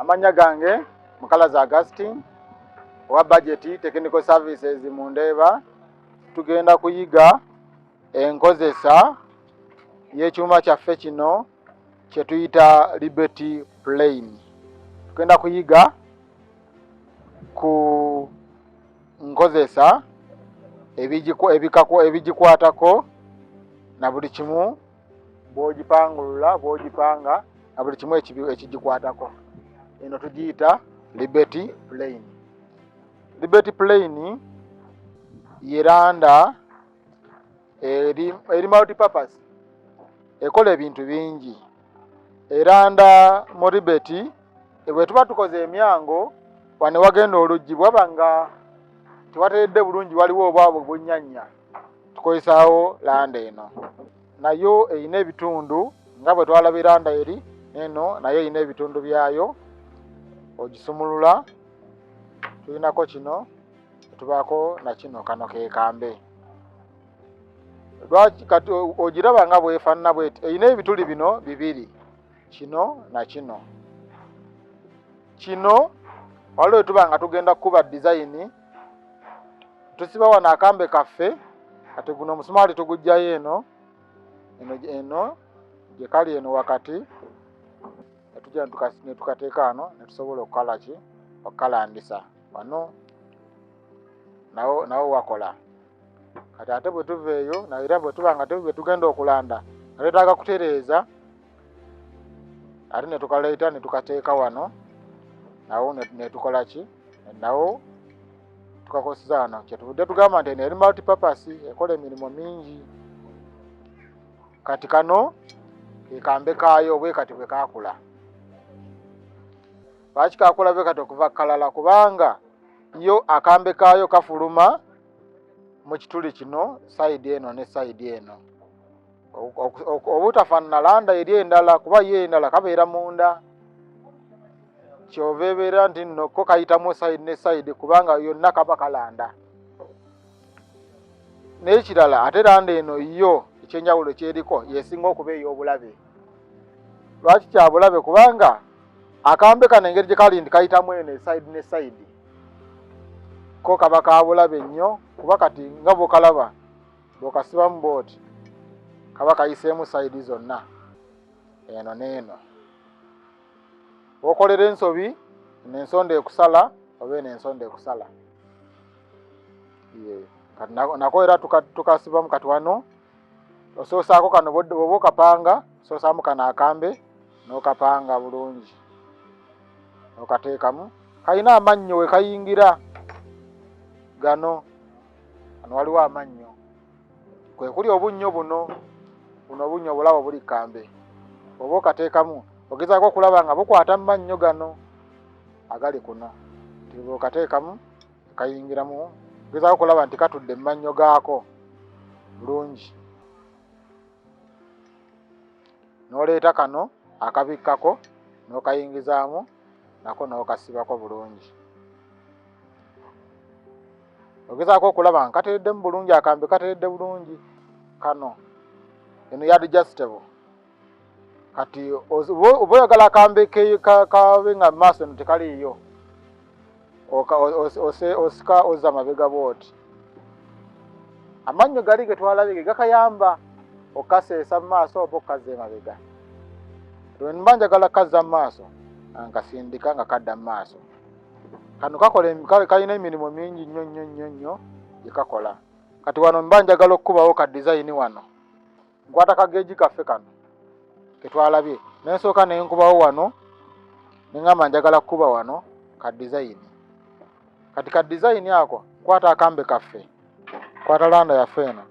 Amanya gange Mukalazi Augustine owa budget technical services mu Ndeeba. Tugenda kuyiga enkozesa y'ekyuma kyaffe kino kye tuyita Liberty Plane. Tugenda kuyiga ku nkozesa ebigikwatako na buli kimu bwogipangulula bwogipanga na buli kimu ekigikwatako eno tugiyita liberty plane liberty plane yeranda eri eri multi purpose ekola ebintu bingi eranda mu ribeti bwe tuba tukoze emyango wane wagenda oluggi bwaba nga tewateredde bulungi waliwo obwabwe bunyanya tukozesaawo landa eno nayo erina ebitundu nga bwe twalaba eranda eri eno nayo erina ebitundu byayo ogisumulula tulinako kino tubaako nakino kano kekambe lwaki kati ogiraba nga bwefanana bweti erina ebituli bino bibiri kino nakino kino waliwo etuba nga tugenda kukuba dizayini tusiba wano akambe kaffe kati guno omusumaali tugujjayo eno eno eno gyekali eno wakati netuja netukateeka ano netusobola okukalaki okukalandisa wano nawo nawo wakola kati ate bwe tuva eyo naera bwe tuba nga tebwe tugenda okulanda nga twetaaga kutereeza ate ne tukaleeta ne tukateeka wano nawo ne tukola ki nawo tukakozesa wano kyetuvudde tugamba nti eno eri multipurpose ekola emirimu mingi kati kano kekambe kaayo bwe kati bwe kakula lwaki kakulabe kati okuva kalala kubanga yo akambe kaayo kafuluma mu kituli kino sayidi eno ne sayidi eno obutafaanana landa eri endala kuba yo endala kabeera munda kyova ebeera nti nno ko kayitamu sayidi ne sayidi kubanga yonna kaba kalanda n'ekirala ate landa eno yo ekyenjawulo kyeriko yesinga okuba ey'obulabe lwaki kyabulabe kubanga akambe kano engeri gye kali nti kayitamu eno esaidi ne saidi ko kaba kabulabe nnyo kuba kati nga bwokalaba bwokasibamu booti kaba kayiseemu saidi zonna eno neeno wokolera ensobi nensonda ekusala oba eno ensonda ekusala kati nako era tukasibamu kati wano osoosaako kano bwoba okapanga soosaamu kano akambe n'okapanga bulungi okateekamu kalina amannyo we kayingira gano ano waliwo amannyo kwe kuli obunnyo buno buno obunnyo obulabo buli kambe oba okateekamu ogezaako okulaba nga bukwata mu mannyo gano agali kuno tibwokateekamu kayingiramu gezaako okulaba nti katudde mu mannyo gaako bulungi n'oleeta kano akabikkako n'okayingizaamu nako n'okasibako bulungi ogezaako okulaba nga katereddemu bulungi akambe kateredde bulungi kano eno yadjustable kati oba oyagala kambe kabe nga maaso no tekaliiyo osika oza mabega bwoti amannyo gali getwalabe ge gakayamba okaseesa mu maaso oba okukazza emabega lwenba njagala kukazza mu maaso nkasindika nga kadda mu maaso kano kakola kalina emirimu mingi nnyo nnyo nnyo nnyo gyekakola kati wano mba njagala okukubawo ka dizayini wano nkwata kageegi kaffe kano ketwalabye nensooka nenkubawo wano nengamba njagala kukuba wano ka dizayini kati ka dizayini ako nkwata akambe kaffe nkwata landa yaffe eno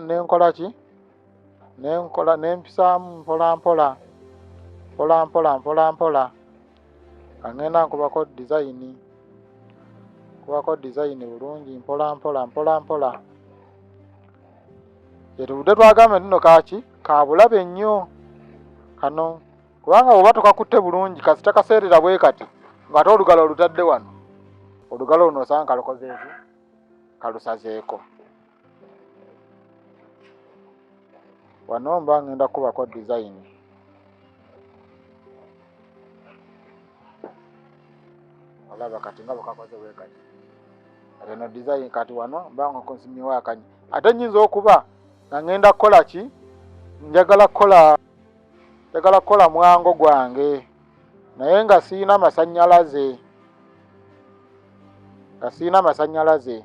nenkola ki nenkola nempisaamu mpolampola mpolampola mpolampola kangenda nkubako dizayini nkubako dizayini bulungi mpola mpola mpola mpola yetubudde twagamba nti no kaki kabulabe nnyo kano kubanga bwoba tukakutte bulungi kasita kaseerera bwe kati ngaate olugalo olutadde wano olugalo luno osanga kalukozeeki kalusazeeko wano mba ngenda kubako dizayini olaba kati nga bwekakoze wekati kati eno dizayini kati wano mba nga konsimiwo akanyi ate nyinza okuba nga ngenda kukola ki njagala kukola njagala kukola mwango gwange naye nga siyina masanyalaze nga siyina masanyalaze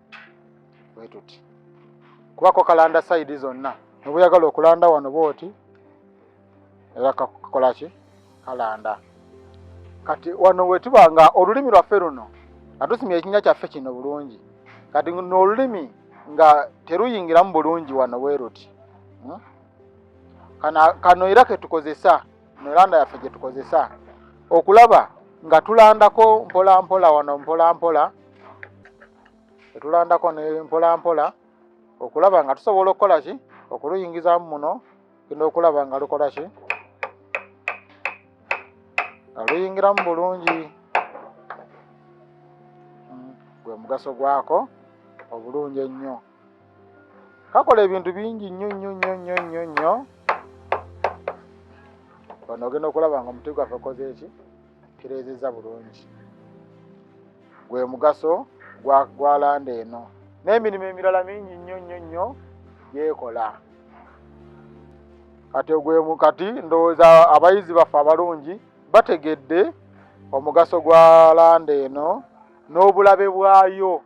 bwe tuti kubako kalanda sayidi zonna nebuyagala okulanda wano bwoti era kakola ki kalanda kati wano wetuba nga olulimi lwaffe luno nga tusimya ekinya kyaffe kino bulungi kati noolulimi nga teruyingiramu bulungi wano weeruti hmm? kano era ketukozesa mu landa yaffe gye tukozesa okulaba nga tulandako mpolampola wano mpolampola etulandako ne mpolampola okulaba nga tusobola okukola ki okuluyingizamu muno genda okulaba nga lukola ki nga luyingiramu bulungi hmm, gwe mugaso gwako obulungi ennyo kakola ebintu bingi nnyo nnyo nnyo nnyo nnyo nnyo wano ogenda okulaba nga omuti gwaffe okoze eki kireezezza bulungi gwe mugaso gwalanda eno n'emirimu emirala mingi nnyo nnyo nnyo gyekola kati ogwemu kati ndowooza abayizi baffe abalungi bategedde omugaso gwa landa eno n'obulabe bwayo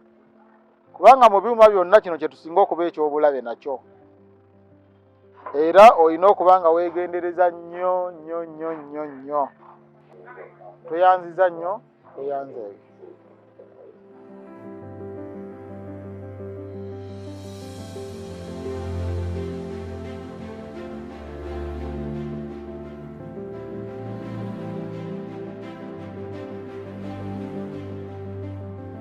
kubanga mu byuma byonna kino kye tusinga okuba eky'obulabe nakyo era olina okuba nga weegendereza nnyo nnyo nnyo nnyo nnyo tweyanziza nnyo eyanza ebyo